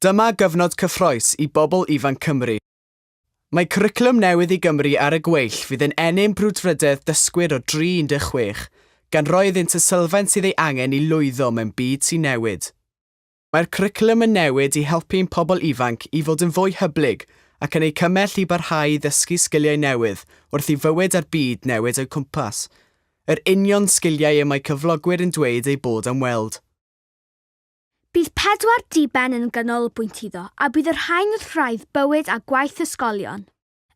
Dyma gyfnod cyffroes i bobl ifanc Cymru. Mae cwricwlwm newydd i Gymru ar y gweill fydd yn ennyn brwdfrydedd dysgwyr o dri 16, gan roi iddynt y sylfaen sydd ei angen i lwyddo mewn byd sy'n newid. Mae'r cwricwlwm yn newid i helpu ein pobl ifanc i fod yn fwy hyblyg ac yn eu cymell i barhau i ddysgu sgiliau newydd wrth i fywyd a'r byd newid o'u cwmpas, yr union sgiliau y mae cyflogwyr yn dweud eu bod am weld. Bydd pedwar diben yn ganolbwynt iddo a bydd y rhain wrth wraidd bywyd a gwaith ysgolion.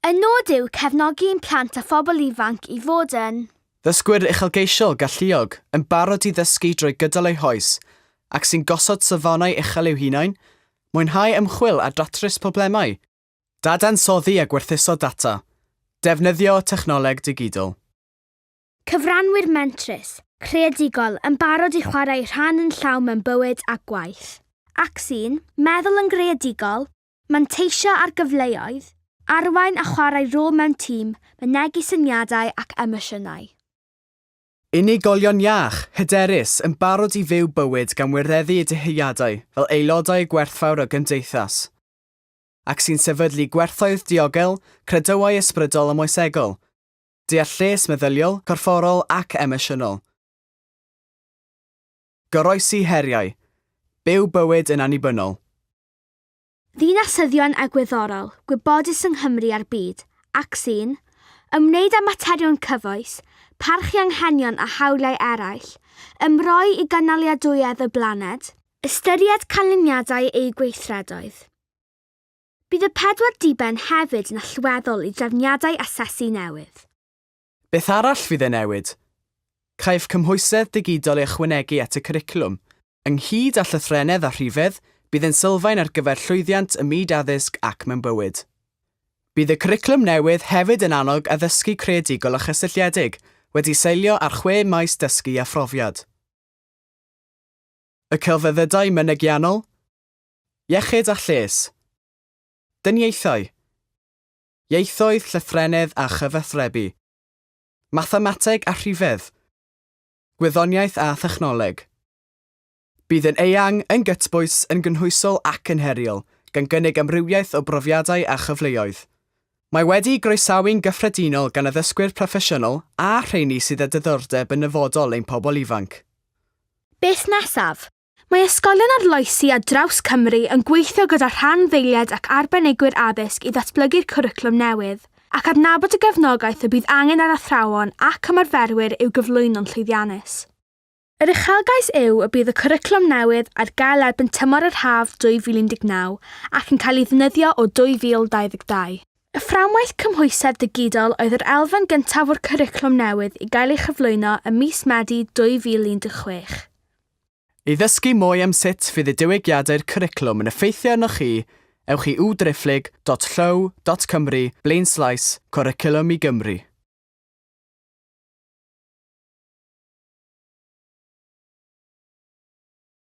Y nod yw cefnogi ein plant a phobl ifanc i fod yn. Ddysgwyr uchelgeisiol, galluog, yn barod i ddysgu drwy gydol eu hoes, ac sy'n gosod safonau uchel i'w hunain, mwynhau ymchwil a datrys problemau, dadansoddi a gwerthuso data, defnyddio technoleg digidol. Cyfranwyr mentrus, creadigol, yn barod i chwarae rhan yn llawn mewn bywyd a gwaith. Ac sy'n meddwl yn greadigol, Manteisio ar gyfleoedd, arwain a chwarae rôl mewn tîm, mynegi syniadau ac emosiynau. Unigolion iach, hyderus, yn barod i fyw bywyd gan wireddu eu dyheadau fel aelodau y gwerthfawr o gymdeithas, ac sy'n sefydlu gwerthoedd diogel, credoau ysbrydol a moesegol, deall lles meddyliol, corfforol ac emosiynol, goroesi heriau, byw bywyd yn annibynnol. ddinasyddion egwyddorol gwybodus yng Nghymru a'r byd, ac sy'n ymwneud â materion cyfoes, parchu anghenion a hawliau eraill, ymroi i gynaliadwyedd y blaned, ystyried canlyniadau eu gweithredoedd. Bydd y pedwar diben hefyd yn allweddol i drefniadau asesu newydd. Beth arall fydd ei newid? Caiff cymhwysedd digidol ei ychwanegu at y cwricwlwm. Ynghyd â llythrennedd a rhifedd, bydd yn sylfaen ar gyfer llwyddiant ym myd addysg ac mewn bywyd. Bydd y cwricwlwm newydd hefyd yn annog addysgu creadigol a chysylltiedig, wedi seilio ar chwe maes dysgu a phrofiad. Y celfyddydau mynegiannol, iechyd a lles, dyniaethau, Ieithoedd, Llythrennedd a Chyfathrebu. Mathemateg a Rhifedd. Gwyddoniaeth a Thechnoleg. Bydd yn eang, yn gytbwys, yn gynhwysol ac yn heriol, gan gynnig amrywiaeth o brofiadau a chyfleoedd. Mae wedi'i groesawu'n gyffredinol gan addysgwyr proffesiynol a rheini sydd â diddordeb yn nyfodol ein pobl ifanc. Beth nesaf? Mae ysgolion arloesi ar draws Cymru yn gweithio gyda rhanddeiliaid ac arbenigwyr addysg i ddatblygu'r cwricwlwm newydd, ac adnabod y gefnogaeth y bydd angen ar athrawon ac ymarferwyr i'w gyflwyno'n llwyddiannus. Yr uchelgais yw y bydd y cwricwlwm newydd ar gael erbyn tymor yr haf 2019 ac yn cael ei ddefnyddio o 2022. Y fframwaith cymhwysedd digidol oedd yr elfen gyntaf o'r cwricwlwm newydd i gael ei chyflwyno ym mis Medi 2016. I ddysgu mwy am sut fydd y diwygiadau'r cwricwlwm yn effeithio arnoch chi, ewch i udreiflyg.llyw.cymru blaenslaes Cwricwlwm i Gymru.